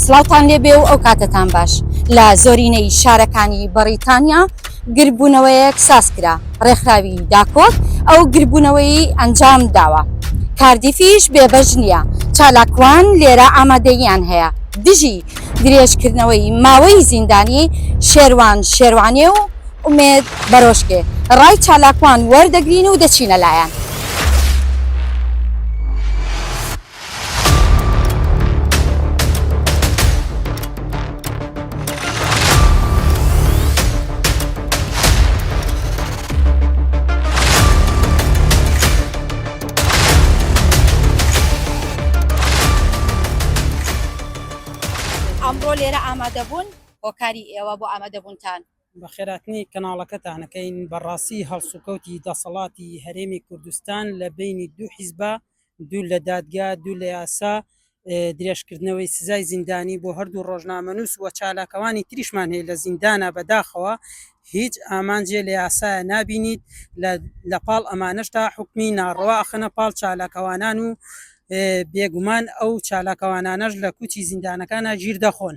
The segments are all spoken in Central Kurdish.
سڵاوتان لێبێ و ئەوکاتەتان باش. لە زۆرینەی شارەکانی بەڕیتانیا گردبوونەوەیەک سازکرا، ڕێکخراوی داکۆک ئەو گردبوونەوەیەی ئەنجامداوە. کاردیفیش بێبەش نییە، چالاکوان لێرە ئامادەییان هەیە دژی درێژکردنەوەی ماوەی زیندانی شێروان شێروانێ و ئومێد بەرۆشکێ، ڕای چالاکوان وەردەگرین و دەچینە لایان. ئەمڕۆ لێرە ئامادەبوون هۆکاری ئێوە بۆ ئامادەبوونتان بە خێراتنی کەناڵەکەتانەکەین بەڕاستی هەڵسوکەوتی دەسەڵاتی هەرێمی کوردستان لە بینی دوو حیزبە دوور لە دادگا، دوور لە یاسا، درێژکردنەوەی سزای زیندانی بۆ هەردوو ڕۆژنامەنووس و چالاکوانی تریشمان هەیە لە زیندانا بەداخەوە هیچ ئامانجێ لە یاسایە نابینیت لە پاڵ ئەمانەشتا حکمی ناڕەوا ئەخەنە پاڵ چالاکەوانان و بێگومان ئەو چالاکەوانانەش لە کوچی زیندانەکانە گیر دەخۆن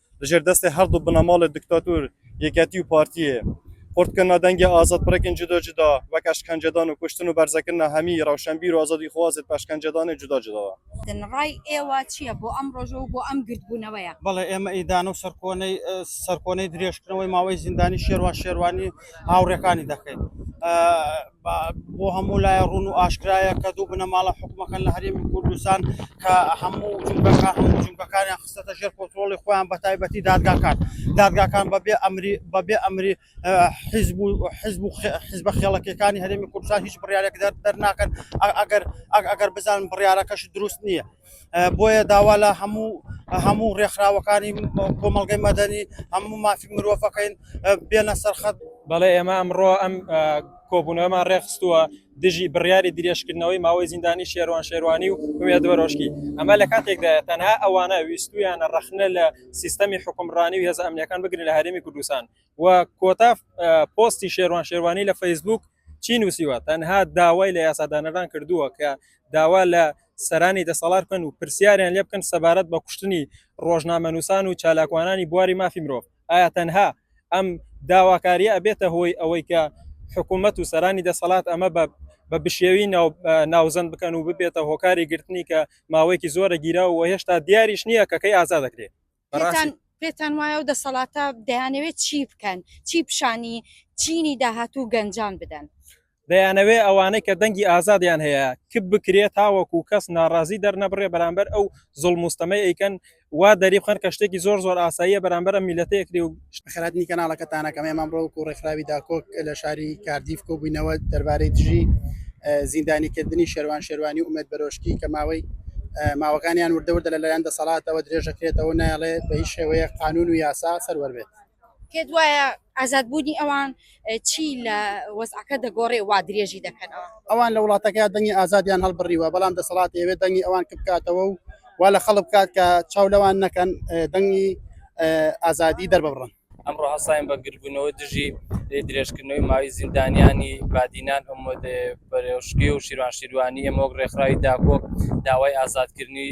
لە ژێر دەستێ هەردوو بنەماڵێ دکتاتور، یەکێتی و پارتیێ، قورت کرنە دەنگێ ئازادپرەکێن جودا جودا، وەک ئەشکەنجەدان و کوشتن و بەرزەکرنە هەمیی رەوشەنبیر و ئازادیخوازێد بە ئەشکەنجەدانێ جودا جوداوە. رای ئێوە چییە بۆ ئەم رۆژە و بۆ ئەم گردبوونەوەیە؟ بەڵێ، ئێمە ئیدانە و سەرکۆنەی سەرکۆنەی درێژکردنەوەی ماوەی زیندانی شێروان شێروانی و هاوڕێکانی دەکەین. بە بۆ هەموو لایە ڕوون و ئاشکرایە کە دوو بنەماڵە حکومەکەن لە هەرێمی کوردستان کە هەموو جومگەکە هەموو جومگەکانیان خستەتە ژێر کۆنترۆڵی خۆیان بە تایبەتی دادگاکان دادگاکان بەبێ ئەمری بەبێ ئەمری حیزب و حیزب و حیزبە خێڵەکەکانی هەرێمی کوردستان هیچ بڕیارێک دەرناکەن ئەگەر ئەگەر بزانن بڕیارەکەش دروست نییە بۆیە داوا لە هەموو هەموو ڕێکخراوەکانی کۆمەڵگەی مەدەنی هەموو مافی مرۆڤەکەین بێنە سەرخەت بەڵێ ئێمە ئەمڕۆ ئەم کۆبوونەوەمان ڕێخستووە دژی بڕیاری درێژکردنەوەی ماوەی زیندانی شێروان شێروانی و وێدوەرۆشکی ئەمە لە کاتێکدا تەنها ئەوانە ویستویانە ڕخنە لە سیستەمی حکومڕانی و هێز ئەمنیەکان بگرن لە هەرێمی کوردستان و کۆتا پۆستی شێروان شێروانی لە فەیسبوک چی نووسیوە تەنها داوای لە یاسادانەران کردووە کە داوا لە سەرانی دەسەڵات بکەن و پرسیاریان لێ بکەن سەبارەت بە کوشتنی ڕۆژنامەنووسان و چالاکوانانی بواری مافی مرۆڤ ئایا تەنها ئەم داواکاریە ئەبێتە هۆی ئەوەی کە حکوومەت و سەرانی دەسەڵات ئەمە بە بە بشێوی ناوزەن بکەن و ببێتە هۆکاری گرتنی کە ماوەیەکی زۆرە گیرا و هێشتا دیاریش نییە کەکەی ئازا دەکرێت پێتان پێتان وایە و دەسەڵاتە دەیانەوێت چی بکەن چی پیشانی چینی داهاتوو گەنجان بدەن دەیانەوێ ئەوانەی کە دەنگی ئازادیان هەیە کپ بکرێت تاوەکو کەس ناڕازی دەرنەبڕێ بەرامبەر ئەو زڵ مستەمە ئەیکەن وا دەری بخەن کە شتێکی زۆر زۆر ئاساییە بەرامبەر میلەتەیەکری و خەراتنی کەناڵەکەتانە کەم ئێمە ڕۆک و ڕێکخراوی داکۆک لە شاری کاردیف کۆبووینەوە دەربارەی دژی زیندانیکردنی شێوان شێوانی و ئومێت بەرۆشکی کە ماوەی ماوەکانیان وردەوردە لەلایەن دەسەڵاتەوە درێژەکرێتەوە نایڵێ بە هیچ شێوەیە قانون و یاسا سەروەر بێت پێت وایە ئازادبوونی ئەوان چی لە وەزعەکە دەگۆڕێ وا درێژی دەکەنەوە؟ ئەوان لە وڵاتەکەیان دەنگی ئازادیان هەڵبڕیوە، بەڵام دەسەڵات دەیەوێت دەنگی ئەوان کپ بکاتەوە و وا لە خەڵک بکات کە چاو لەوان نەکەن دەنگی ئازادی دەرببڕن. ئەمڕۆ هەستاین بە گردبوونەوە دژی درێژکردنەوەی ماوەی زیندانیانی بادینان، ئەمەد پەرۆشکی و شیروان شیروانی، ئێمە وەک ڕێکخراوی داکۆک داوای ئازادکردنی،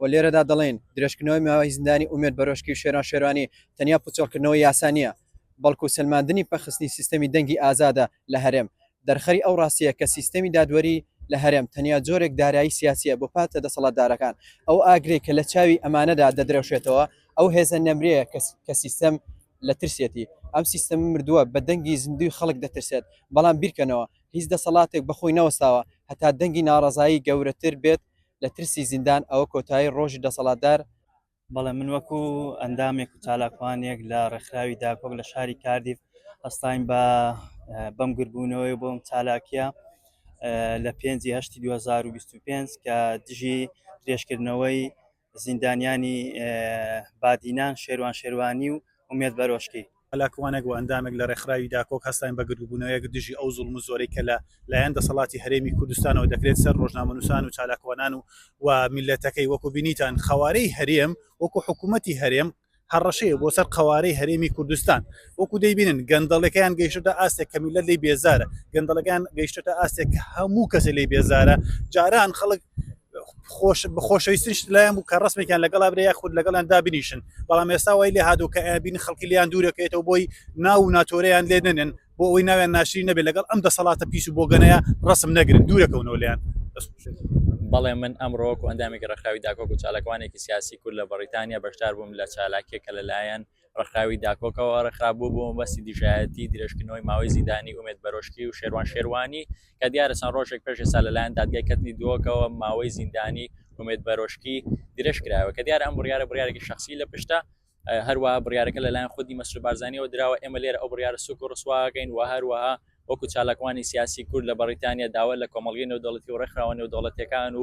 و لێرەدا دەڵێین درێژکردنەوەی ماوەی زیندانی ئومێد بەرۆشکی و شێران شێروانی تەنیا پوچەڵکردنەوەی یاسا نییە، بەڵکو سەلماندنی پەخستنی سیستەمی دەنگی ئازادە لە هەرێم، دەرخەری ئەو ڕاستییە کە سیستەمی دادوەری لە هەرێم تەنیا جۆرێک دارایی سیاسییە بۆ پارتە دەسەڵاتدارەکان، ئەو ئاگرەی کە لە چاوی ئەمانەدا دەدرەوشێتەوە ئەو هێزە نەمرییە کە سیستەم لە ترسێتی، ئەم سیستەمە مردووە بە دەنگی زیندووی خەڵک دەترسێت، بەڵام بیرکەنەوە هیچ دەسەڵاتێک بەخۆی نەوەستاوە هەتا دەنگی ناڕەزایی گەورەتر بێت لە ترسی زیندان ئەوە کۆتایی ڕۆژی دەسەڵاتدار بەڵێ من وەکو ئەندامێک و چالاکوانێک لە ڕێکخراوی داکۆک لە شاری کاردیف هەستاین بە بەم گربوونەوەی بۆم چالاکیە لە پێنجی هەشتی 2025 کە دژی درێژکردنەوەی زیندانیانی بادینان شێروان شێروانی و ئومێد بەرۆشکی چالاکوانێک و ئەندامێک لە رێکخراوی داکۆک هەستاین بە گردوبوونەوەیەک دژی ئەو زوڵم و زۆرەی کە لە لایەن دەسەڵاتی هەرێمی کوردستانەوە دەکرێت سەر رۆژنامەنووسان و چالاکوانان و و میللەتەکەی وەکو بینیتان قەوارەی هەرێم وەکو حکوومەتی هەرێم هەڕەشەیە بۆ سەر قەوارەی هەرێمی کوردستان وەکو دەیبینن گەندەڵەکەیان گەیشتە ئاستێک کە میللەت لی بێزارە گەندەڵەکان گەیشتە ئاستێک کە هەموو کەسە لی بێزارە جاران خەڵک خۆشەویستنیش لایەن بوو کە ڕسمێکیان لەگەڵ برێ یاخود لەگەڵیان دابنیشن بەڵام ئێستا وای لێ هادو کە ئابین خەڵکی لیان دوورەکەێتەوە بۆی ناو و ناتۆریان لێ نەنێن بۆ ئەوی ناویان ناشری نەبێت لەگەڵ ئەم دەسەڵاتە پیس و بۆگەنەیە ڕسم نەگرن دوورەکەونەوە لیان بەڵێ من ئەمڕۆک و ئەندامێکی ڕخراوی داکۆک و چالاکوانێکی سیاسی کورد لە بەڕیتانیا بەشدار بووم لە چالاکیەکە لەلایەن ڕێکخراوی داکۆکەوە ڕێکخرابوو بۆ مەبەستی دژایەتی درێژکردنەوەی ماوەی زیندانی ئومێد بەرۆشکی و شێروان شێروانی کە دیارە چەند ڕۆژێک پێش ئێستا لەلایەن دادگای کەتنی دۆکەوە ماوەی زیندانی ئومێد بەرۆشکی درێژ کرایەوە کە دیارە ئەم بڕیارە بڕارێکی شخصی لە پشتە هەروە بڕارەکە لەلایەن خودی مەسر بارزانانیەوە دراوە ئێمە لێرە ئەو بڕارە سوک و ڕسواگەین و هەروەها وەکو چالاکوانی سیاسی کورد لە بەریتانیا داوا لە کۆمەلگەی نێودەڵەتی و ڕێکخراوە نێودەوڵەتەکان و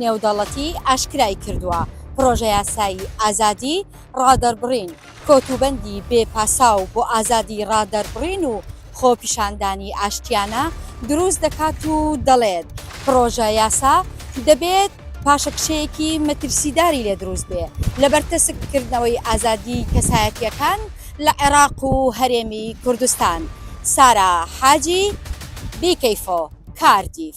نێودەڵەتی ئاشکرای کردووە، پڕۆژەیاسای ئازادی ڕادەربڕین کۆتوبەندی بێ پاساو بۆ ئازادی ڕادەربڕین و خۆپیشاندانی ئاشتیانە دروست دەکات و دەڵێت، پڕۆژە یاسا دەبێت پاشەکشەیەکی مەترسیداری لێ دروست بێ لەبەر تەسک کردنەوەی ئازادی کەسایەتییەکان لە عێراق و هەرێمی کوردستان. سارا حاجی، بیکەیفۆ. کاردیف.